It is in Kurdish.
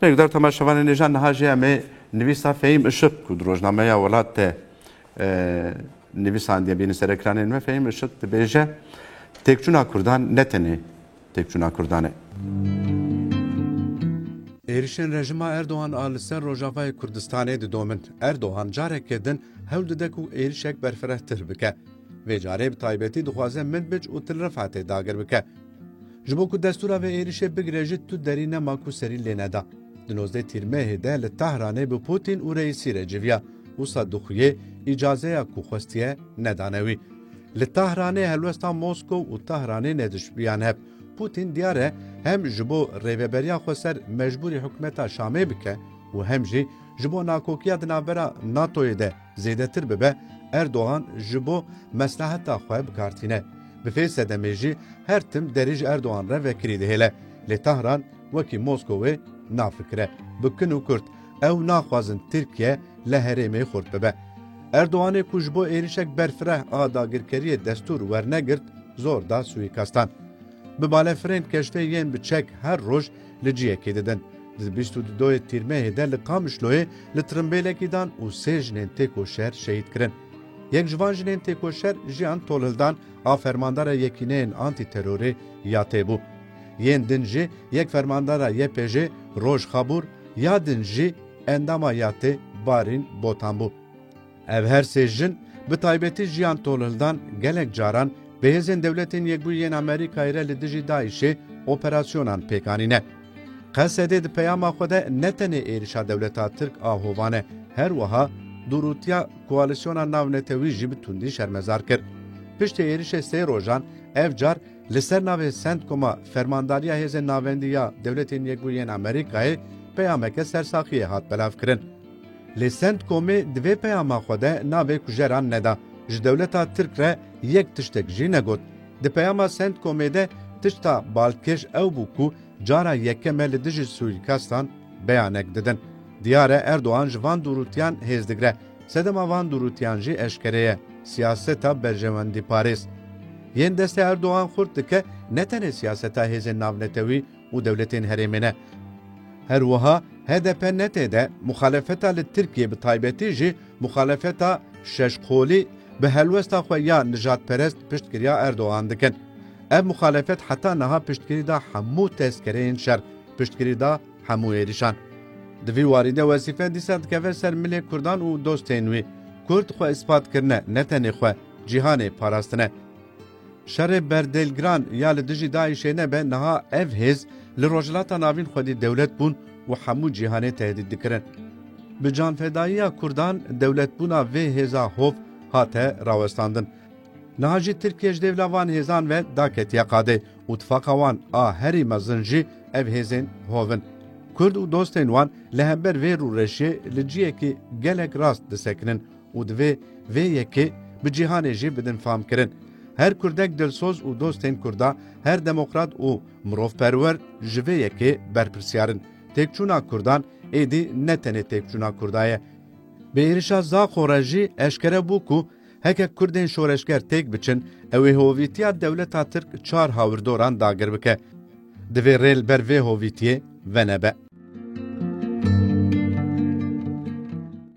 Rêkdar Toma Şevanênêja niha jê em ê nivîsa Fehîm Işık ku di rojnameya welat de nivîsandiye bîne serekranên me Fehîm Işık dibêje têkçûna Kurdan ne tenê têkçûna Kurdan e. Êrişên rejima Erdogan a li ser Rojavayê Kurdistanê didomin. Erdogan careke din hewl dide ku êrişek berfirehtir bike. Vê carê bi taybetî dixwaze Minbic û Til Rifatê dagir bike. Ji bo ku destûra vê êrişê bigire jî tu derî nema ku serî lê neda. Di nozdeh tîrmehê de li Tahranê bi Pûtîn û Reîsî re civiya, wisa dixuyê îcazeya ku xwestiye nedane wî. Li Tahranê helwesta Moskow û Tahranê nedişibiyan heb. Pûtîn diyar e hem ji bo rêveberiya xwe ser mecbûrî hikûmeta Şamê bike û hem jî ji bo nakokiya di navbera NATOyê de Zêdetir bibe Erdogan ji bo mesleheta xwe bi kar tîne. Bi vê sedemê jî her tim derî ji Erdogan re vekirî dihêle. Lê Tahran wekî Moskowê nafikire. Bi kin û kurt ew naxwazin Tirkiye li herêmê xurt bibe. Erdoganê ku ji bo êrîşek berfireh a dagirkeriyê destûr wernegirt zor da suîkastan. Bi balefirên keştê yên bi çek her roj Li ciyekê didin. Di bîst û dudoyê Tîrmehê de li Qamişloyê li tirimbêlekî dan û sê jinên têkoşer şehîd kirin. Yek ji van jinên têkoşer Jiyan Tolhildan a fermandara Yekîneyên Antîterorê ya tê bû. Yên din jî yek fermandara YPJ'ê Roj Xabûr ya din jî endama ya tê Barîn Botan bû. Ev her sê jin, bi taybetî Jiyan Tolhildan gelek caran bi hêzên Dewletên Yekbûyî yên Amerîkayê re li dijî DAIŞ'ê operasyonan pêk anîne. Qesedê di peyama xwe de ne tenê êrişa dewleta Tirk a hovan e, her wiha dûrûtiya koalîsyona navnetewî jî bi tundî şermezar kir. Piştî êrişê sê rojan, ev car li ser navê CENTCOM-a Fermandariya Hêzên Navendî ya Dewletên Yekbûyî yên Amerîkayê peyameke sersaxiyê hat belavkirin. Lê Centcomê di vê peyama xwe de navê kujeran neda, ji dewleta Tirk re yek tiştek jî negot. Di peyama Centcomê de tişta balkêş ew bû ku cara yekem e li dijî sûîkastan beyanek didin. Diyar e Erdogan ji van dûrûtiyan hêz digire. Sedema van dûrûtiyan jî eşkere ye, siyaseta berjewendîparêz yên destê Erdogan xurt dike ne tenê siyaseta hêzên navnetewî, û dewletên herêmê ne. Her wiha hdp ne têde muxalefeta li Tirkiyê bi taybetî jî muxalefeta şeş qolî bi helwesta xwe ya nijadperest piştgiriya Erdogan dikin. Ev muxalefet heta niha piştgirî da hemû tezkereyên şer, piştgirî da hemû êrîşan. Di vî warî de wezîfe dîsa dikeve ser milê kurdan û dostên wî. Kurd xwe îspat kirine ne tenê xwe, cîhanê parastine. Şerê berdêlgiran ya li dijî DAIŞ'ê nebe niha ev hêz li Rojhilata Navîn xwedî dewlet bûn û hemû cîhanê tehdît dikirin. Bi canfedayiya Kurdan dewletbûna vê hêza hov hate rawestandin. Niha jî Tirkiye ji dêvla van hêzan ve daketiye qadê û tifaqa wan a herî mezin jî ev hêzên hov in. Kurd û dostên wan li hember vê rûreşiyê li ciyekî gelek rast disekinin. Û divê vê yekê bi cîhanê jî bidin famkirin. Her kurdek dilsoz û dostên kurda, her demokrat û mirovperwer ji vê yekê berpirsyar in. Têkçûna kurdan êdî ne tenê têkçûna kurda ye. Bi êrişa Zaxo re jî eşkere bû ku heke kurdên şoreşger têk biçin, ew ê hovîtiya dewleta tirk çar hawirdoran dagir bike. Divê rê li ber vê hovîtiyê venebe.